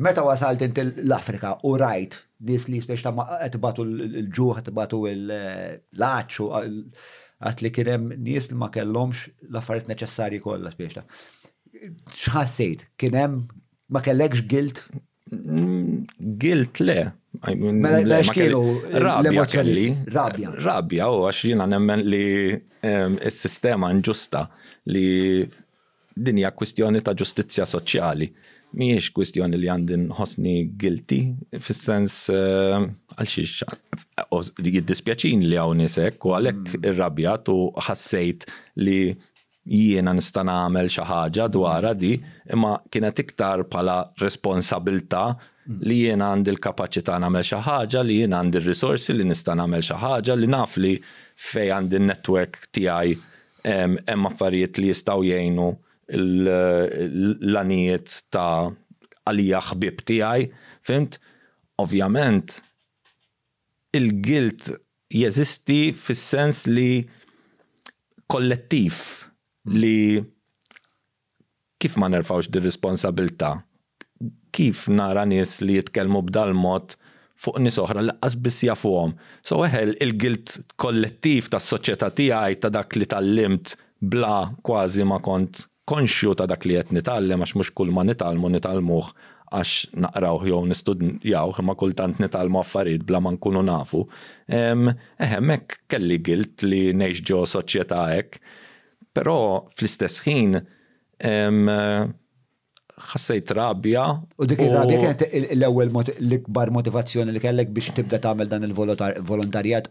Meta wasalt inti l-Afrika u rajt nies li spiex ta' qed ibatu l-ġuħ, qed ibatu l-għatx u għad li kien hemm nies li ma kellhomx l-affarijiet neċessarji kollha spiex ta'. X'ħassejt? Kien hemm ma kellekx gilt? Gilt le. Mela x'kienu rabja kelli? Rabja. Rabja u għax jiena nemmen li s-sistema nġusta li Din hija kwistjoni ta' ġustizzja soċjali. Mhijiex kwistjoni li għandi nħossni guilty fis-sens eh, għal xiex jiddispjaċin li hawn isek u għalhekk mm. irrabjat u ħassejt li jiena nista' nagħmel xi ħaġa dwarha di, imma kienet iktar bħala responsabilità li jiena għandi l-kapaċità nagħmel xi ħaġa, li jiena għandi r-risorsi li nista' nagħmel xi ħaġa, li naf li fej għandi n-netwerk tiegħi hemm affarijiet li jistgħu jgħinu l-għanijiet ta' għalija ħbieb tiegħi, fhimt? Ovvjament il-guilt jeżisti fis-sens li kollettiv li Kif ma nerfgħux dir-responsabilità? Kif nara nies li jitkellmu b'dal-mod fuq nies oħra li laqqas biss jafuhom? So eħe, il-guilt kollettiv tas-soċjetà tiegħi, ta' dak li tgħallimt bla kważi ma kont konxju ta' dak li qed nitgħallem għax mhux kulma nitgħallmu nitgħallmuh għax naqrawh jew nistudjawh imma kultant nitgħallmu affarijiet bla ma nkunu nafu. Ehm, eħe hemmhekk kelli guilt li ngħix ġo soċjetà hekk. Però fl-istess ħin ħassejt rabja. U dik ir-rabja kienet l-ewwel l-ikbar motivazzjoni li kellek biex tibda tagħmel dan il-volontarjat?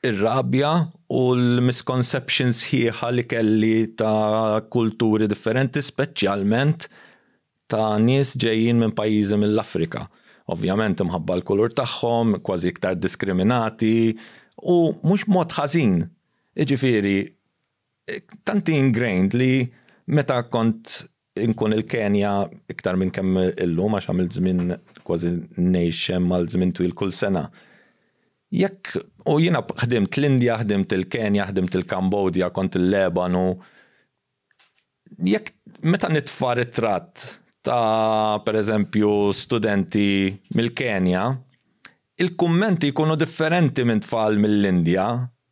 Ir-rabja u l-misconception sħiħa li kelli ta' kulturi differenti, speċjalment ta' nies ġejjin minn pajjiżi mill-Afrika. Ovvjament imħabba l-kulur tagħhom, kważi iktar diskriminati, u mhux mod ħażin. Jiġifieri, Tanti ingrained li meta kont inkun il-Kenja iktar minn kemm illum għax għamilt żmien kważi ngħix hemm għal żmien twil kull sena. Jekk u jiena ħdimt l-Indja, ħdimt il-Kenja, ħdimt il-Kambodja, kont il-Lebanu, Jekk meta nitfa' ritratt ta' pereżempju studenti mill-Kenja, il-kummenti jkunu differenti minn tfal mill-Indja,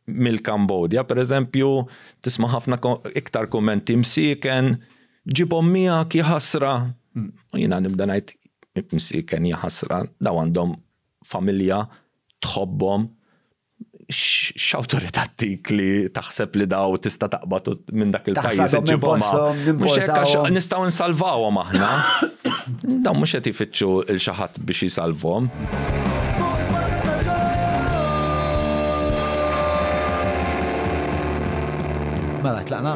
mill-Kambodja pereżempju, tisma' ħafna iktar kummenti msieken, ġibhom miegħek, jaħasra. U jiena nibda ngħid, msieken, jaħasra, dawn għandhom familja, tħobbhom, x'awtorità tik li taħseb li daw tista' taqbad minn dak il-pajjiż iġibhom mhux hekk għax nistgħu nsalvawhom aħna. Daw mhux qed ifittxu il xi ħadd biex jisalvhom. Mela tlaqna.